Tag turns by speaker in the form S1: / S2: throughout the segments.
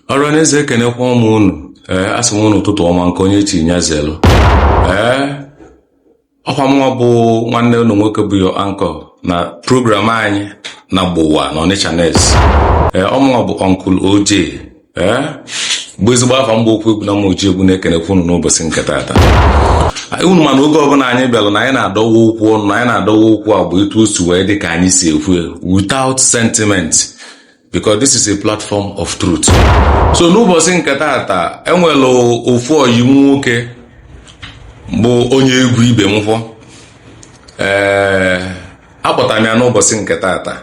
S1: ọra n'eze ekenekwaa mụ unu ee asị m unu ụtụtụ ọma nke onye chi nya zelu ee ọkwa mụwa bụ nwanne unu nwoke bụ your anchor na program anyị na gbowa na ọnịcha nest ee ọ mụwa bụ uncle OJ ee bụ ezigbo afa m bụ okwu egwu na mma oji egwu na-ekenekwa unu n'ụbọchị nke taata unu ma na oge ọbụla anyị bịara na anyị na-adọwa okwu ọnụ na anyị na-adọwa okwu afụ etu o si wee dị ka anyị si ekwu ya without sentiment because this is a platform of truth so n'ụbọsị nke taata e nwere ofu ọyị m nwoke bụ onye egwu ibe m fọ ee eh, akpọtara m ya n'ụbọsị nke taata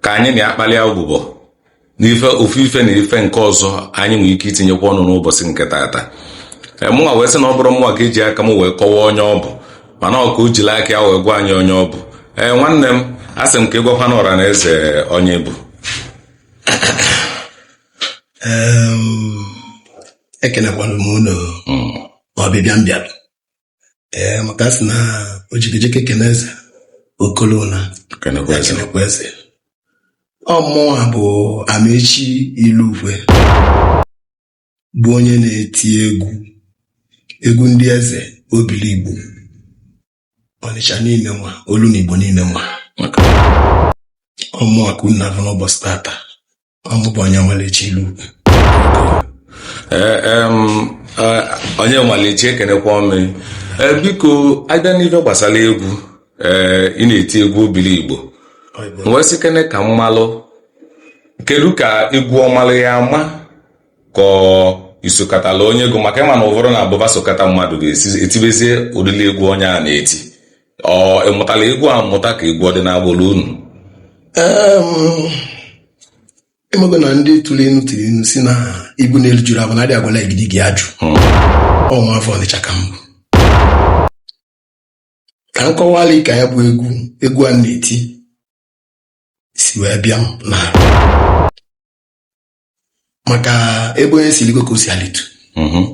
S1: ka anyị na ya kpalịa ụbụbọ n'ife ofu ife na ife nke ọzọ anyị nwere ike itinyekwa ọnụ n'ụbọsị nke taata eh, mụnwa wee sị na ọ bụrọ mụnwa ga-eji aka m wee kọwaa onye ọ bụ mana ọ ka o jili aka ya wee gwa anyị onye ọ bụ ee nwanne m asị m ka ị gwakwana ọra na eze onye ị bụ Em,
S2: ekenekwalụ m unu ọbịbịa m bịalụ ee maka a sị na o jikejike kene eze o kolo ụna kenekwa eze ọ mụwa bụ amaechi ilukwe bụ onye na-eti egwu egwu ndị eze obiligbo Ọnịcha niine nwa olu na Igbo niine nwa ọ mụwa ka unu na-afụ n'ụbọsị tata ọ mụ bụ onyemalechi
S1: ilukwe onyemalechi ekenekwaa m ị e, biko a bịa n'ife gbasara egwu e, ị na-eti egwu obiligbo m wee sị kene ka m malụ kedu ka egwu ọ malụ ya ama ka ọ i sokatala onye egwu maka ị ma na ụfọdụ na-abụ fa sokata mmadụ fa esi etibezie ụdịrị egwu onye a na-eti ọ ị mụtala egwu amụta ka egwu ọ dị n'agbụlụ unu Em,
S2: ị mago na ndị tụlụ inu tili inu sị na ibu n'elu juru abọ na adị agwala igidigi ajụ ọ nwa afọ ọnịcha ka m bụ ka m kọwala ka ya bụ egwu egwu a na-eti si wee bịa m na maka ebe onye si ligo ka o si alitu Mhm.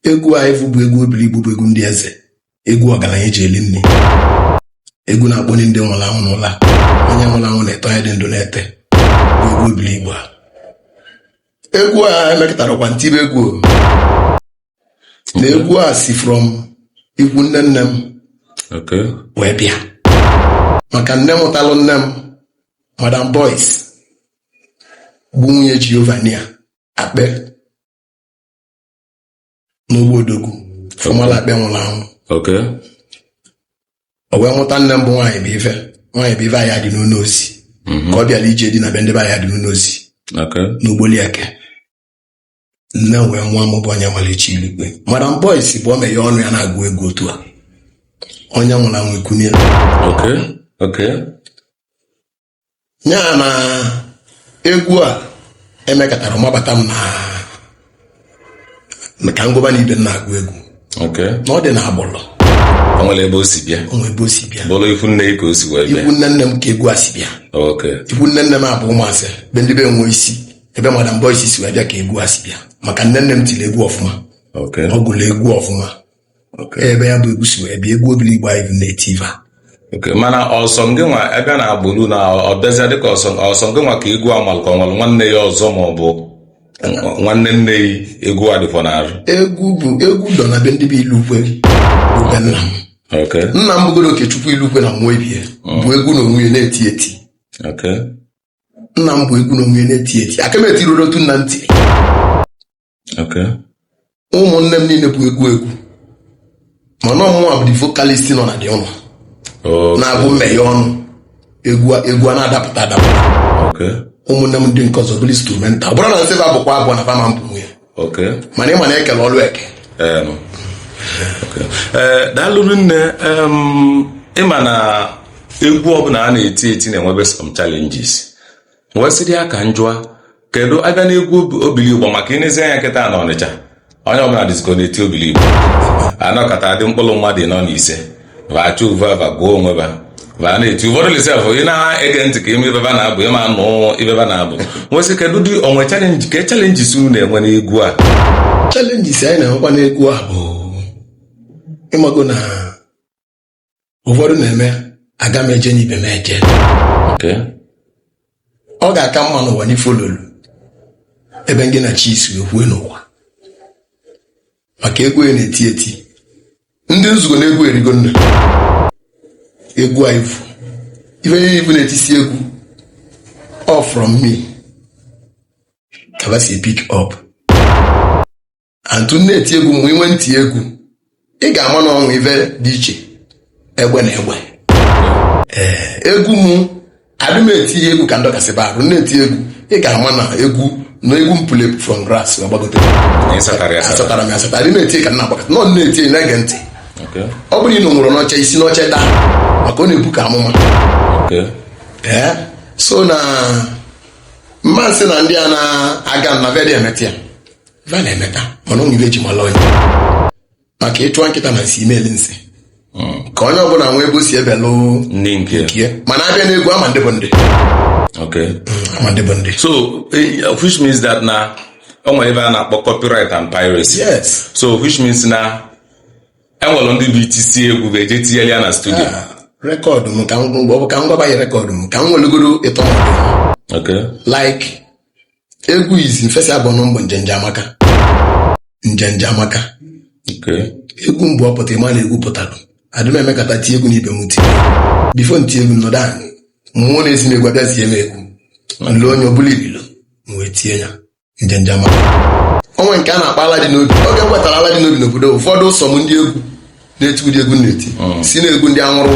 S2: egwu afụ bụ egwu obiligbo bụ egwu ndị eze egwu ọgalanya e ji eli nni egwu na-akpọni ndị nwụrụ anwụ n'ụla onye nwụrụ anwụ na-ete onye dị ndụ na-ete bụ egwu obiligbo a egwu a emekatarọkwa m tibe egwu o. na egwu a si from ikwu nne nne m Okay. wee bịa maka nne mụtalụ nne m madam boys bụ nwunye Jehova na ya akpe n'ụgbọ odogwu fọmala akpe nwụrụ anwụ Okay. o wee mụta nne m bụ nwaanyị bụ ife nwaanyị bụ ife Ayadịnụnọ Ozi ka ọ bịara ije di na be ndị be Ayadịnụnọ Ozi Okay. n'Ogboli Eke nne wee nwa m bụ Onyemaechi Ilukwe madam boys bụ o meghe ọnụ ya na-agụ egwu otu a onye nwụrụ anwụ ekunie Okay. Okay. nya na egwu a emekatara mabata m na ka ngụba na ibe m na-agụ egwu na ọ dị na agbụrụ o nwere ebe o
S1: si bịa o nwere ebe o si bịa bụrụ
S2: ifu nne ka o
S1: si wee bịa ifu nne nne m ka egwu
S2: a si bịa ifu nne nne m a bụ Ụmụase be ndị be nwe isi ebe madam boys si wee bịa ka egwu a si bịa maka nne nne m tiri egwu ọfụma ọ gụrụ egwu ọfụma ebe ya bụ egwu si wee bịa egwu Obiligbo anyị na-eti ife a okay
S1: mana ọ sọ gị nwa ebe na agbụrụ na ọ bịazịa dịka ọ sọ ọ sọ gị nwa ka egwu a malụ ka o nwere nwanne ya ọzọ ma ọ bụ nwanne nne ya egwu a dịfọ n'arụ egwu bụ
S2: egwu dọ na be ndị be Ilukwe bụ be nna m okay nna m bụgoro Okechukwu Ilukwe na nwa ebie bụ egwu na onwe ya na-eti eti okay nna m bụ egwu na onwe ya na-eti eti aka m etirurọ otu nna m ti ụmụnne m niile bụ egwu egwu mana ọ mụnwa bụ the vocalist nọ na dị ọnụ na-agụ m meghe ọnụ egwu a na-adapụta adapụta ụmụnne m ndị nke ọzọ bụrụ instrumental ọ bụrụ na nsebe abụkwa abụọ na fama mpụ nwunye mana ị ma na e kele ọlụ eke
S1: eh, daalụ rinne ị ma na egwu ọbụla a na-eti eti na-enwebe some challenges wee sịrị ya ka m jụọ kedu a bịa n'egwu Obi- Obiligbo maka ị nezie anya kịta na Ọnịcha onye ọbụla dịzikwọ na-eti Obiligbo a nọkọta dị mkpụrụ mmadụ anọ ise va chọva ava gụọ onwe va va na-eti ụfọdụ dị sef ị na-ege ntị ka ị ma ive va na-agụ ị ma nụ ive va na-agụ m wee sị kedu dị o nwe challenge ka challenges unu na-enwe n'egwu a challenges
S2: anyị na-enwekwa n'egwu a bụ ị mago na ụfọdụ na-eme aga m eje n'ibe m eje ọ ga-aka mma n'ụwa n'ife ọ nọlụ ebe ngị na chi yị si ekwue n'ụwa maka egwu ya na-eti eti ndị nzugo na egwu erigo nna egwu a ị fụ ife niile ị fụ na-etisi egwu all from me ka ba si pick up antu na-eti egwu mgbe inwe ntị egwu ị ga-ama na o nwe ife dị iche egbe na egbe egwu m adị m eti egwu ka ndọkasị ba arụ na-eti egwu ị ga-ama na egwu na egwu m pụrụ from grass agbagote asatara m asatara adị m eti ka nna agbakọta nọ na-eti na-ege ntị ọ bụrụ ị nọ nwụrụ n'oche i si n'oche daa maka ọ na-ebu ka amụma ee so na mma sị na ndị a na-aga na va adị emeta ya va na-emeta mana o nwe ife e ji mala onye maka ịchụwa nkịta na nsị i me-eli nsị ka onye ọbụla nwee ebe o si ebelụ ndị nke nke
S1: ya mana a bịa n'egwu a
S2: ma ndị bụ ndị okay a ma ndị bụ ndị so eh,
S1: which means that na o nwere ebe a na-akpọ copyright and piracy yes so
S2: which means
S1: na enwere ndị bụ i tisịa egwu va eje tinyere ya na studio rekọdụ m
S2: ka m ọ bụ ka m gwaba ya rekọdụ m ka m welugoro ịtọ okay like egwu izizi m first album m bụ njenje amaka njenje amaka Okay. egwu m bụ ọ pụta ị ma na egwu pụtara adị m emekata tie egwu na ibe m tie before m tie egwu nọdụ anị mmụọ na-ezi m egwu abịa zie m egwu nle onye ọbụla ibilo m wee tie ya njenje amaka o nwe nke a na-akpọ ala dị n'obi oge m wetara ala dị n'obi n'obodo ụfọdụ ụsọ m ndị egwu na-eti ụdị egwu m na-eti sị na egwu ndị anwụrụ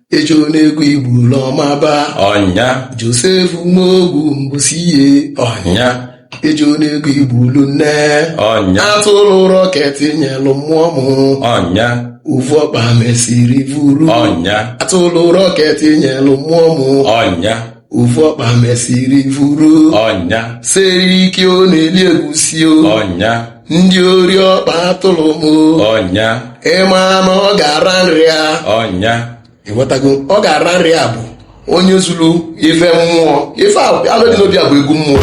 S2: ejo n'egwu igbulu ọmaba
S1: ọnya
S2: josef nwaogwu mbụsi ihe ọnya ejo n'egwu igbulu nne ọnya
S1: atụrụ
S2: rọket nyelụ mmụọ m
S1: ọnya ovu
S2: ọkpa mesiri vuru ọnya atụrụ
S1: rọket
S2: nyelụ mmụọ m ọnya
S1: ovu
S2: ọkpa mesiri vuru ọnya
S1: siri ike
S2: ọ na-eli egusi o ọnya
S1: ndị ori
S2: ọkpa atụrụ m o ọnya
S1: ịma na
S2: ọ ga-ara nri a
S1: ọnya
S2: ịghọtago ọ ga-ara nri a bụ onye zuru ife mmụọ ị fụ ala dị n'obi a bụ egwu mmụọ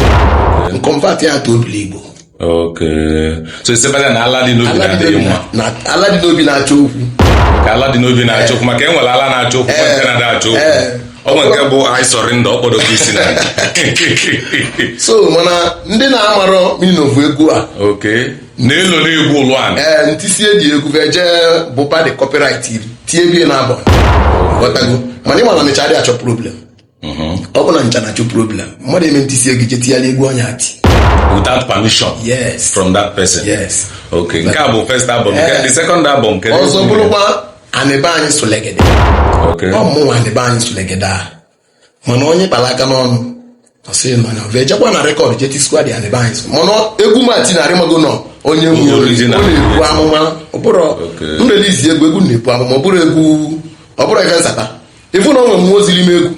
S2: m convert ya to obiligbo
S1: Okay. So isebanya na ala dị n'obi na-adịghị mma. Na ala dị n'obi
S2: na-achọ okwu. Ka ala dị
S1: n'obi na-achọ okwu maka enwere ala na-achọ okwu eh, nke na-adị achọ okwu. Eh. Ọ nwere nke bụ I surrender ọkpọdọ ka isi na.
S2: So mana ndị na-amarọ meaning of egwu a. Okay.
S1: Na-elo na egwu ụlọ a. Ee, eh, m tisie eji egwu va
S2: eje bụpa dị copyright iri tie bie na album. Ghọtago. Mana ịma na mechara achọ problem. ọ bụ na m cha na-achọ problem mmadụ eme ntị sie gị je tinyela egwu onye ati without
S1: permission yes from that person yes okay nke a bụ first album nke the second album nke ọzọ bụrụkwa
S2: anị be anyị sulugede okay ọ mụ nwe anị be anyị sulugede a mana onye kpara aka n'ọnụ ọ sị mana ọ ejekwa na rekọd je tisikwa dị anị be anyị so mana egwu mati na arịmago nọ onye egwu Onye ọ original. na-ebu amụma ọ bụrụ Okay. m release egwu egwu na-ebu amụma ọ bụrụ egwu ọ bụrụ ife nsata ịfụ na ọ nwe mmụọ ziri m egwu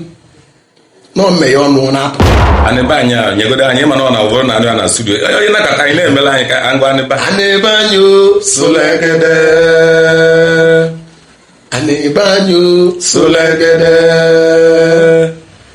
S2: na m meye ọnụ na-apụ anị be anyị a
S1: nyegodo anyị mana ọ na ọ bụrụ na anyị a na studio onye nakọta anyị na-emela anyị ka ngwa anị ba anị be anyị
S2: o solegede anị be anyị o solegede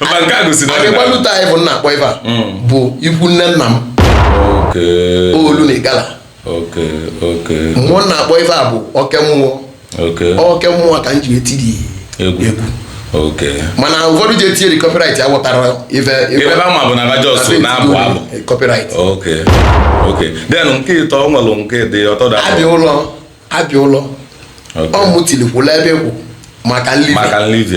S2: mba nke a gosi na anyị gbalụta anyị bụ m na-akpọ ife a mm. bụ ikwu nne nna m olu na igala mmụọ na-akpọ ife a bụ oke mmụọ oke mmụọ ka m ji etiri egwu mana ụfọdụ ji etinye copyright ya wụtara ife ebe ama bụ
S1: na Lagos na-abụ abụ copyright then nke ịtọ ọ nwere nke dị ọtọ da abịa ụlọ
S2: abịa ụlọ ọ mụtilikwula ebe kwụ maka nlivi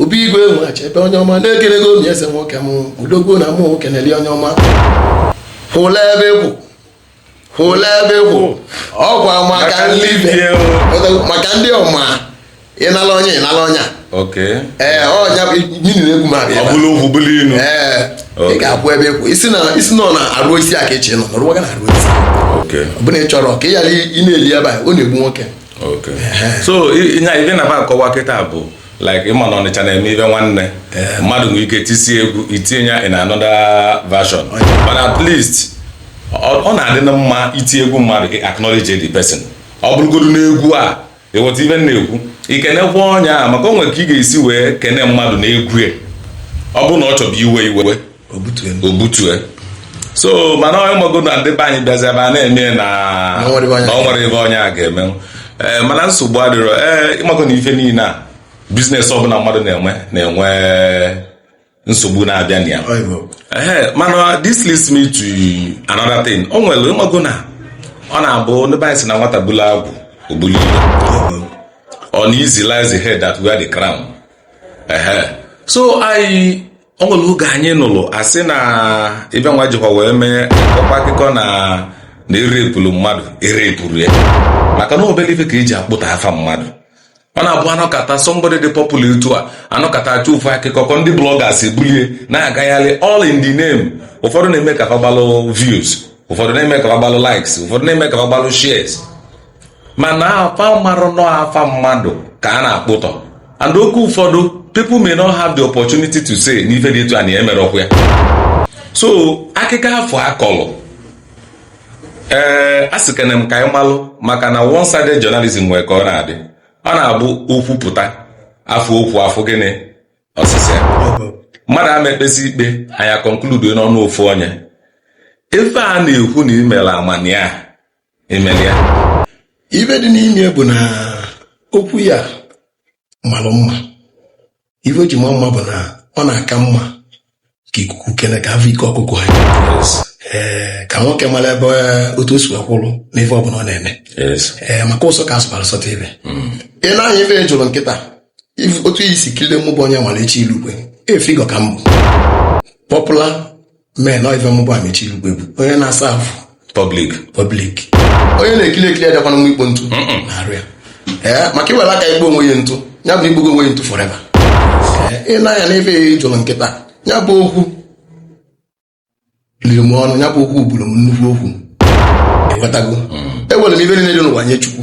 S2: Obi Igwe nwa Achebe onye ọma na-ekele gị omi eze nwoke m odogwu na mụ nwoke na-eli onye ọma hụla ebe ịkwụ hụla ebe ịkwụ ọkwa maka ndị maka ndị ọma ịnala onye ịnala ọnya ee ọnya bụ nyini na egwu m abịa ee ị ga-akwụ ebe ịkwụ isi na isi nọ na arụ isi a ka echi nọ nọrọ gị na arụ isi ọ bụla ị chọrọ ka ị ghara ị na-eli ebe a ọ na-egbu nwoke so
S1: ife m na-akọwa kịta bụ like ị ma na Ọnịcha na-eme ife nwanne eh. mmadụ nwere ike tisie egwu i tinye ya in another version oh, but at least ọ na-adị mma i tie egwu mmadụ acknowledge the person ọ bụrụgodu n'egwu a ị ghọta ife m na-ekwu i kenekwa onye a maka o nwe ka ị ga-esi wee kene mmadụ na egwu ọ bụrụ na ọ chọbu iwe iwe o butue so mana ị mago na ndị be anyị bịazi ebe a na-eme na Na o nwere ife onye na o nwere ife onye a ga-eme ee mana nsogbu adịrọ ee ị mago na ife niile a business ọbụla mmadụ na-enwe na-enwe nsogbu na-abịa na ya Ehe, mana this leads me to another thing o nwere ị mago na ọ na-abụ ndị be anyị si na nwata bulu agwụ o bulu ibe uneasy lies the head that wear the crown. Uh-huh. So I o nwere oge anyị nụrụ a sị na ibe nwa jikwa wee mee ọkwa akụkọ na na e repụrụ mmadụ e repụrụ ya maka na obere ife ka e ji akpụtọ afa mmadụ ọ na-abụ a nọkata somebody dị popular etu a a nọkata a chọọ ofu akụkọ kọọ ndị bloggers ebulie na-agagharị all in the name ụfọdụ na-eme ka fa gbalụ views ụfọdụ na-eme ka fa gbalụ likes ụfọdụ na-eme ka fa gbalụ shares mana fa amarọ na ọ afa mmadụ ka a na-akpụtọ and okay ụfọdụ people may not have the opportunity to say na ife dị etu a na emerọkwa ya so akịkọ afụ a kọlụ ee a sị kene m ka anyị malụ maka na one sided journalism nwere ka ọ na-adị ọ na-abụ okwu pụta a fụ okwu afụ gịnị ọsịsị mmadụ ama ekpesi ikpe anyị a conclude n'ọnụ ofu onye ife a na-ekwu na i mere amania imela ife
S2: dị n'ime bụ na okwu ya malụ mma ife o ji ma mma bụ na ọ na-aka mma ka ikuku kene ka afụ ike ọkụkọ ha ee ka nwoke mara ebe otu o si wee kwụrụ n'ife ọbụla ọ na-eme ee maka ụsọ ka asụbara sọta ibe hmm. ị na-anya ife jụrụ nkịta otu e si kilie mụ bụ Onyemaechi Ilukwe ị fụgo ka m bụ popular mee na ife mụ bụ Amaechi Ilukwe bụ onye na-asa arụ public public onye na-ekiri ekiri adakwana nwa ikpo ntụ n'arụ ya ee maka i were aka ikpo onwe ya ntụ ya bụ i kpogo onwe ya ntụ forever ị na-anya na ife jụrụ nkịta ya bụ okwu liri m ọnụ ya bụ okwu buru m nnukwu okwu ịghọtago ewere m ife niile dị n'ụwa nye chukwu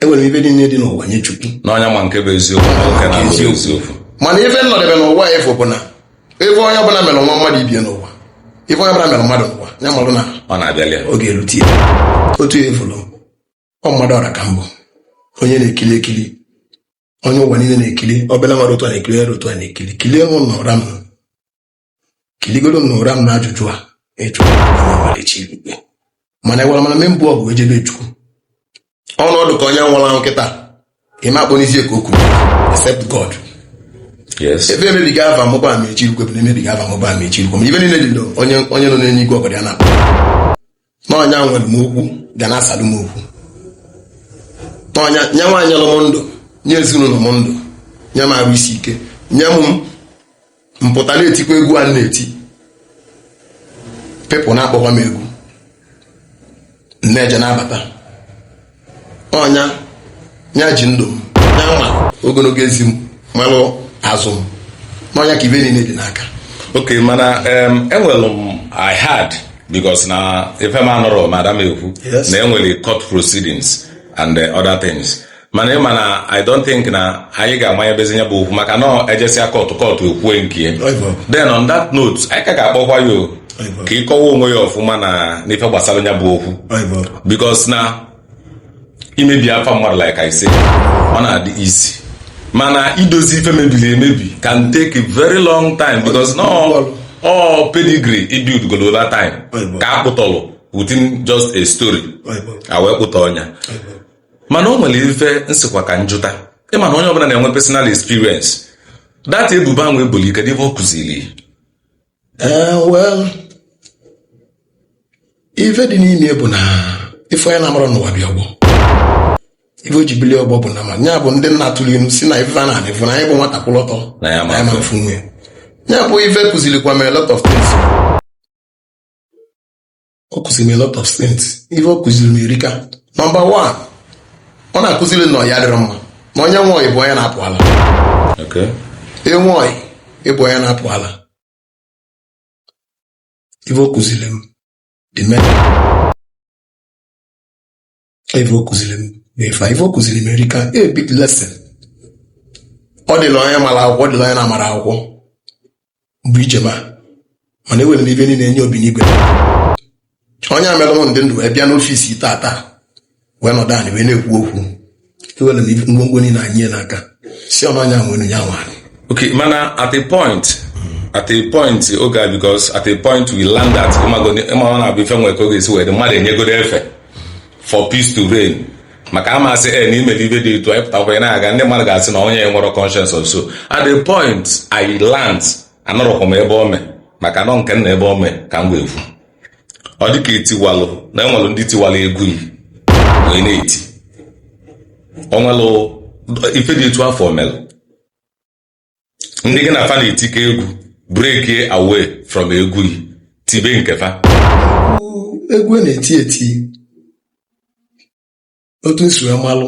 S2: ewere m ife
S1: niile dị n'ụwa nye chukwu na ọ nya ma nke bụ eziokwu na nke na abụghị eziokwu mana
S2: ife m nọdebe n'ụwa afụ bụ na ife onye ọbụla mere nwa mmadụ ibe ya n'ụwa ife onye ọbụla mere mmadụ n'ụwa ya marụ na ọ na-abịali ya
S1: oge erute
S2: ya otu ya ị fụlụ ọ mmadụ ọra ka m bụ onye na-ekili ekili onye ụwa niile na-ekili obere nwere otu a na-ekili e were otu a na-ekili kilie mụ na ụra m kiligodo m na ụra m na ajụjụ a ị jụrụ Amaechi Ilukwe mana agwara m na me mbụ ọgụ ejebe chukwu ọ nọdụ ka onye nwụrụ ahụ kịta ịma akpọ n'isi ka okwu except God ebe emebigo ava mụ bụ Amaechi Ilukwe bụ na emebigo ava mụ bụ Amaechi Ilukwe ma ife niile dị onye nọ n'enu igwe ọgọdọ ya na-akpụ na ọ nya nwere m okwu ga na-asalụ m okwu na ọ nya nwa nyelụ m ndụ nye ezinụlọ m ndụ nye m arụ isi ike nye m m pụta na-etikwa egwu a na-eti people na-akpọkwa m egwu m na-eje na-abata ọ nya ji ndụ m ya ma ogologo ezi m malụ azụ m na ọ nya ka ife niile dị n'aka ok mana
S1: enwere m I heard because na ife m nụrụ madam ekwu na enwere court proceedings and uh, other things mana ị ma na i don't think na anyị ga-abanyebezi na ya bụ okwu maka na ejesịa kọtụ kọtụ ekwue nke ya then on that note anyị ka ga-akpọkwa ya ka ị kọwa onwe gị ọfụma na n'ife gbasara ya bụ okwu because na imebi afa mmadụ like I say ọ na-adị easy mana idozi ife mebiri emebi can take a very long time because no all pedigree i buildigo over time ka a kpụtọlụ within just a story e wee kpụtọọ nya mana o nwere ife m sịkwa ka m jụta ị ma na onye ọbụla na-enwe personal experience that ebubo ahụ ebolu ị kedu ife ọ kụziri ee
S2: well ife dị n'ime bụ na ife onye na-amara n'ụwa bịa ọgbọ ife o ji bilie ọgbọ bụ na ma ya bụ ndị nna tụrụ ilu si na ife a nọ ana fụ na anya bụ nwata kwụrụ ọtọ Na ya ama afụ nya ya bụ ife kụzirikwa m a lot of things ọ kụziri m a lot of things ife ọ kụziri m erika nọmba one ọ na-akụziri m na ọya dịrị mma na onye nwe ọyị bụ onye na-apụ ala enwe ọyị ịbụ onye na-apụ ala ife ọ kụziri m dị ime ife o kụziri m n'ife a, ife o kụziri m erika a big lesson ọ dịla onye mara akwụkwọ ọ dịla onye na-amarọ akwụkwọ mgbe ije ma mana ewere m ife niile enye obi n'igwe onye a mere m dị ndụ wee bịa n'ọfịsị taa wee nọdụ anyị wee na-ekwu okwu ewere m ife- ngwongwo niile enye ya n'aka si ọnụ anya nwere ya nwa okay
S1: mana at a point at a point oge a because at a point we learn that ịmago- ịma ọ na-abụ ife nwere ka ọ ga-esi wee dị mmadụ enyegoro efe for peace to reign maka a ma sị na i mere ife dị etu anyị pụtakwa ya na-aga ndị mmadụ ga-asị na onye a enwerọ conscience of so at the point I learned anọrọkwa m ebe o mee maka na ọ nke m nọ ebe o mee ka m ga-ekwu ọ dịka etiwalụ na enwelụ ndị tiwalụ egwu yi wee na-eti o nwelụ ife dị etu afụ melụ ndị gị na fa na-etikọ egwu breakie away from egwu yi tibe nke fa
S2: egwu a na-eti eti otu m si wee malụ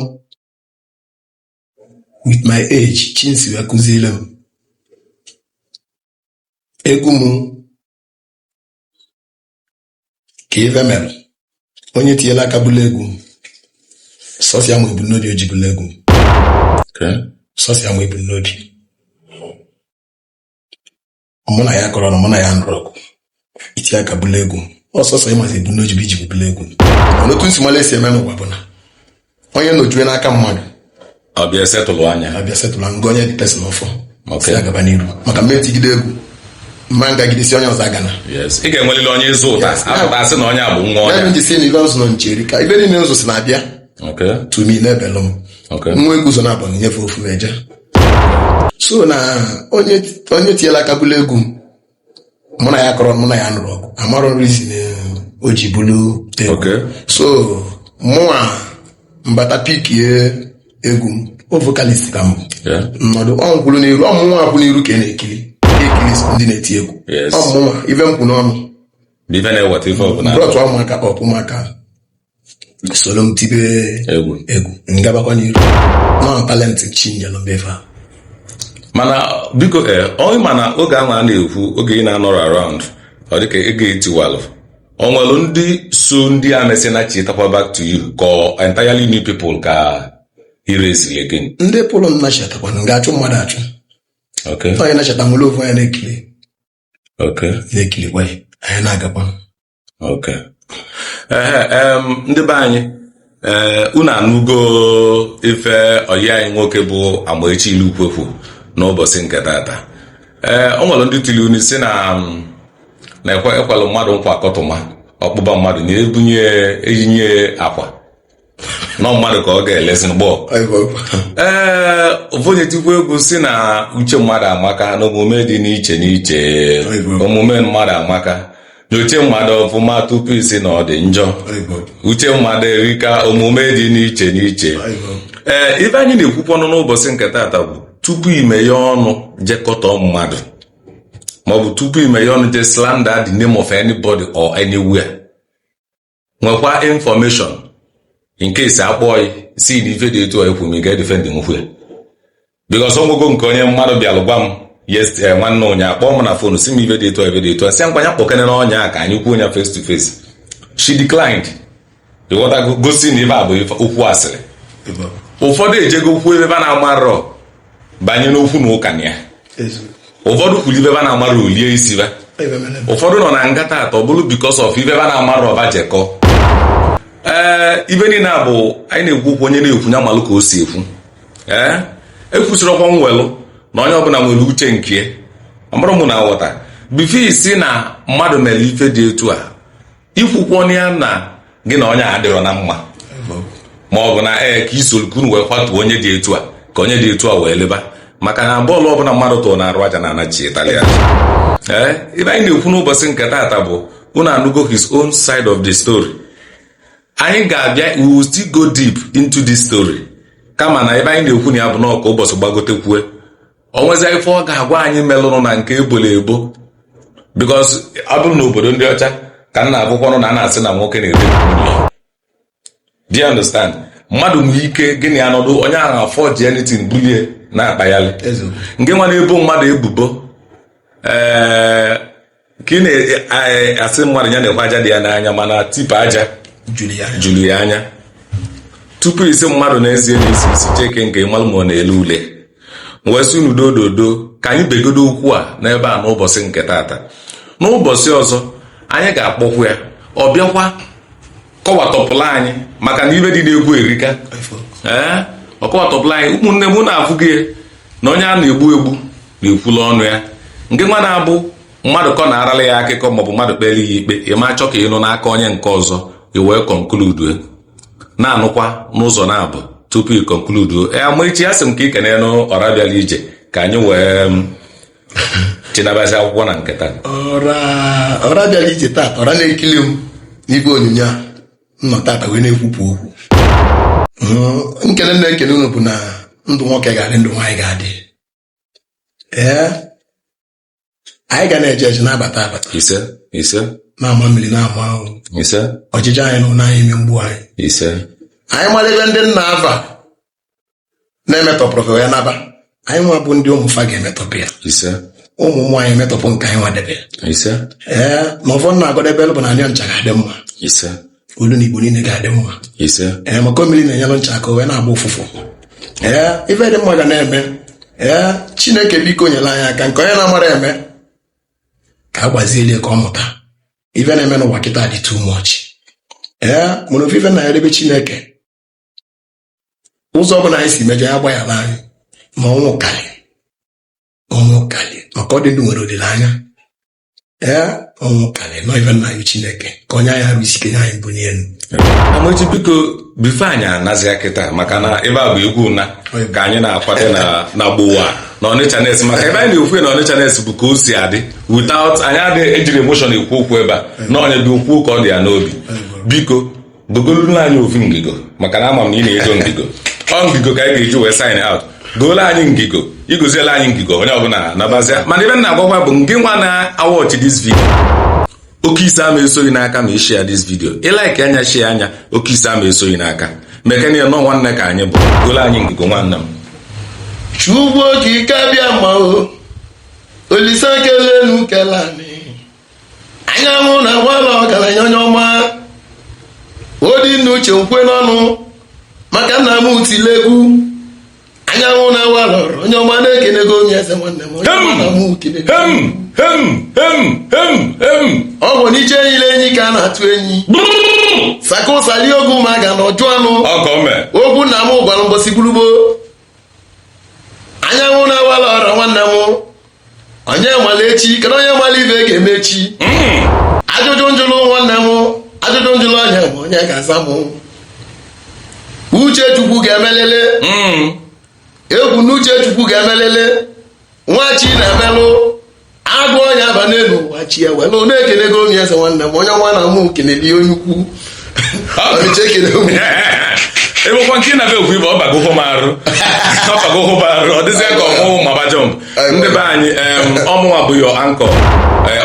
S2: with my age chi m si wee kụziere m egwu m ka ife mere onye tinyela aka bulu egwu m sọsọ ya ma ebumnobi o ji bulu egwu m sọsọ ya ma ebumnobi mụ na ya akọrọ ọnụ mụ na ya anụrọ ọgụ i tinye aka bulu egwu m ọ sọsọ yi mazi ebumnobi i ji bulu egwu m mana otu m si malụ e si eme n'ụwa bụ na onye nojue n'aka mmadụ ọ
S1: bịa settle onye a a bịa settle ngwa ọ nye the
S2: person ọfọ Ok. sị ya gaba n'iru maka m ma-etigide egwu m ma ngagide sị onye ọzọ agana Yes. ị ga-enwelili onye
S1: ị zụta Yes. a pụta a sị na onye a bụ nwa ebe ọ ya m ji sị na ibe ụzọ nọ
S2: nche erika ebe niile ụzọ si na-abịa Ok. to me na-ebelụ m Ok. nwa egwu ụzọ na-abụ nyefe ofu m eje so na onye onye tiela aka bulu egwu m mụ na ya akọrọ ọnụ mụ na ya anụrọ ọgụ amarọ m reason o ji bulu egwu Okay. so mụnwa m bata pickie egwu m ọ vocalist ka m bụ Yeah. m nọdụ ọ m kwụlụ n'iru ọ mụnwa kwụ n'iru ka ị na-ekiri ka ekiri ndị na-eti egwu Yes. ọ mụnwa ife m kwu n'ọnụ Ife na-eweta ife ọbụla. brọtụ ụmụaka kpọpụ ụmụaka soro m tibe egwu egwu m gabakwa n'iru na ọ talent chi nyelụ m bụ ife a mana
S1: biko ee onye mana oge ahụ a na-ekwu oge ị na-anọrọ around ọ dịka egwu a tiwalụ o nwere ndị so ndị a mesịa nachitakwa back to you ka ọ entirely new people ka i raisili again ndị pụrụ nachitakwa
S2: na m ga-achụ mmadụ achụ okay onye nachita m were ofu anya na-ekili okay na-ekilikwa ya anyị na-agakwa
S1: ok ndị be anyị ee eh, unu anụgo ife ọyị anyị nwoke bụ Amaechi Ilukwe kwu n'ụbọsị nke tata ee eh, o nwelu ndị tili unu si na mm, na ekwelụ mmadụ nkwa akọtụma ọkpụba mmadụ na-ebunye eyinye akwa nọ mmadụ ka ọ ga-elezi gbọọ ee ofu onye tikwa egwu si na uche mmadụ amaka na omume dị n'iche n'iche omume mmadụ amaka nyoche mmadụ ọfụma tupu ị sị na ọ dị njọ uche mmadụ erika omume dị n'iche n'iche ee ife anyị na-ekwukwanụ n'ụbọsị nke tata bụ tupu i meye ọnụ je kọtọọ mmadụ maọbụ tupu i meye ọnụ je slander the name of anybody or anywhere nwekwa information in case a kpọọ ya si na ife dị etu a ekwu m ị ga-edifendịnwukwa ya because ọgwụgwụ nke onye mmadụ bịalụ gwa m yes eh, nwanne onye akpọọ m na fonu si m ife dị etu a ife dị etu a si ngwa nya kpọkenenụ onye a ka anyị kwuo ya face to face she declined ịghọtago gosi na ibe a bụ ife- okwu asịrị ụfọdụ ejego kwuo ibe ba na-amarọ banye n'okwu na ụka na ya ụfọdụ kwulu ibe ba na-amarọ o lie isi ba ụfọdụ nọ na nga tata bụrụ because of ibe ba na-amarọ ba je kọ ee ibe niile a bụ anyị na-ekwu okwu onye na-ekwu nya malụ ka o si ekwu ee ekwusịrị ọkwa nwelụ na onye ọbụla nwere uche nke ọmụrụ m na nghọta before ị sị na mmadụ melu ife dị etu a i kwukwọ ya na gị na onye a adịrọ na mma ma ọ bụ na ee ka i soro ka unu wee kwatuo onye dị etu a ka onye dị etu a wee leba maka na ball ọbụla mmadụ tụrụ n'arụ aja na-anachitalị ya ee ibe anyị na-ekwu n'ụbọsị nke tata bụ unu anụgo his own side of the story anyị ga-abịa we will still go deep into this story kama na ibe anyị na-ekwu na ya bụ na ka ụbọsị gbagotekwue o nwezi ife ọ ga-agwa anyị melụrụ na nke e bolu ebo because ọ bụrụ na obodo ndị ọcha ka m na-agụkwanụ na a na-asị na nwoke na-ere nwunye ya. do you understand mmadụ nwere ike gị na ya nọdụ onye ahụ aforge anything bulie na-akpaghalị Eziokwu. ngị nwa na-ebo mmadụ ebubo ee ka ị na-asị mmadụ ya na-ekwe aja dị ya n'anya mana tipper aja juru ya anya tupu ị sị mmadụ na eze ya na-esi isi cheke nke ị malụ ma ọ na-ele ule wee sị unu doo doo doo ka anyị begodo okwu a n'ebe a n'ụbọsị nke tata n'ụbọsị ọzọ anyị ga-akpọkwu ya ọ bịakwa kọwatọpụlụ anyị maka na ibe dị n'egwu erika ee ọ kọwatọpụlụ anyị ụmụnne m unu afụgo na onye a na-egbu egbu na-ekwulu ọnụ ya ngị nwa na-abụ mmadụ kọ na-arala ya akụkọ maọbụ mmadụ kpelu ya ikpe ị ma chọ ka ị nụ n'aka onye nke ọzọ i wee conclude na-anụkwa n'ụzọ naabọ tupu ị conclude Amaechi asị m ka ị kenenụ ọra bịalụ ije ka anyị wee chinabazi akwụkwọ na nketa
S2: ọra ọra bịara ije tata ọra na-ekili m n'igwe onyonyo a nnọ tata wee na-ekwupụ okwu Mm, nkene m na-ekene unu bụ na ndụ nwoke ga-adị ndụ nwaanyị ga-adị ee anyị ga na-eje eje na-abata abata ise
S1: ise na-ama mmiri
S2: na-ama ahụ ise ojije anyị na ụna anyị ime mgbu anyị ise anyị mara ebe ndị nna fa na-emetọpụrụ ka ya naba anyị nwa bụ ndị ụmụ fa ga-emetọpụ ya ise ụmụ ụmụ anyị emetọpụ nke anyị nwa debe ise ee na ọfọ m na-agọdebelụ bụ na anyị ncha ga-adị mma ise olu na igbo niile ga-adị mma ise ee maka mmiri na-enyelụ ncha aka o wee na-agba ụfụfụ ee ife dị mma ga na-eme ee chineke biko nyere anyị aka nke onye na-amarọ eme ka a gbazielụ ya ka ọ mụta ife na-eme n'ụwa kịta dị too much ee mana ofu ife m na-ayọ bụ chineke ụzọ ọ bụla anyị si mejọ ya gbaghara anyị ma ọnwụ karị ọnwụ karị maka ọ dị ndụ nwere olileanya ee ọnwụ karị na ọ ife m na-ayọ chineke ka o nye anyị arụ isi ike nye anyị mbunye enu amaechi biko
S1: before anyị anazia kịta maka na ebe a bụ egwu na ka anyị na-akwado na na gbowa na ọnịcha nes maka ebe anyị na-ekwu na ọnịcha nes bụ ka o si adị without anyị adịghị ejiri emotion ekwu okwu ebe a na onye dị okwu ka ọ dị ya n'obi biko gogoluru anyị ofu ngigo maka na ama m na ị na-ego ngigo ọ ngigo ka anyị ga-eji wee sign out goolu anyị ngigo igoziela anyị ngigo onye ọbụla nabazia mana ife m na-agwa gị bụ ngị nwa na-awatch this video oke isi ama eso gị n'aka ma ị share this video ị like ya share ya oke isi ama eso gị n'aka maka na ọ nwanne ka anyị bụ goolu anyị ngigo nwanne m chukwu
S2: okike abịama o olise kelụ enu kelụ anị anyanwụ na-awalụ ọgaranya onye ọma ọ dị m n'uche m kwue n'ọnụ maka nna m utile egwu anyanwụ na-awalụ onye ọma na ekenego m onye eze nwanne m onye ọma na mụ kene ọ bụ n'iche enyila enyi ka a na-atụ enyi saka ụsali ogwu ma ga na ọjụ anụ ogwu nna m gwara mbosi gburugbo anyanwụ na-awalụ ọra nwanne m onye mala echi kedu onye mala ife ga-eme echi ajụjụ m jụlụ nwanne m ajụjụ m jụlụ onye bụ onye ga-aza m uche chukwu ga-emelele egwu na uche chukwu ga-emelele nwa chi na-emelụ agụ onye aba n'elu ụwa chi ya wee n'ụlọ ekele gị onye eze nwanne m onye ọma na mụ kelele onye ukwu ọmịcha ekele ụmụ
S1: ebekwa nke na be okwu ibe ọ bago hụ m arụ ọ bago hụ m arụ ọ dịzịa ka mụ maba jump ndị be anyị em, ọ mụnwa bụ your uncle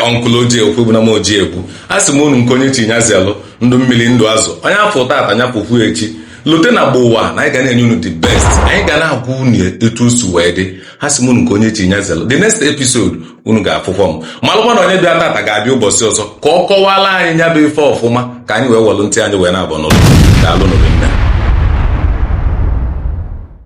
S1: uncle oji ekwu bụ na m oji ekwu a sị m unu nke onye chi nya zelụ ndụ mmiri ndụ azụ onye fụ tata nya fụkwa echi lote na ugbua na anyị ga na-enye unu the best anyị ga na-agwa unu etu o si wee dị ha sị m unu nke onye chi nya zelo the next episode unu ga-afụkwa m malụkwa na onye bịa tata ga-abịa ụbọsị ọzọ ka ọ kọwala anyị nya bụ ife ọfụma ka anyị wee welụ ntị anyị wee naabọ nụlụ daalụnụ rinne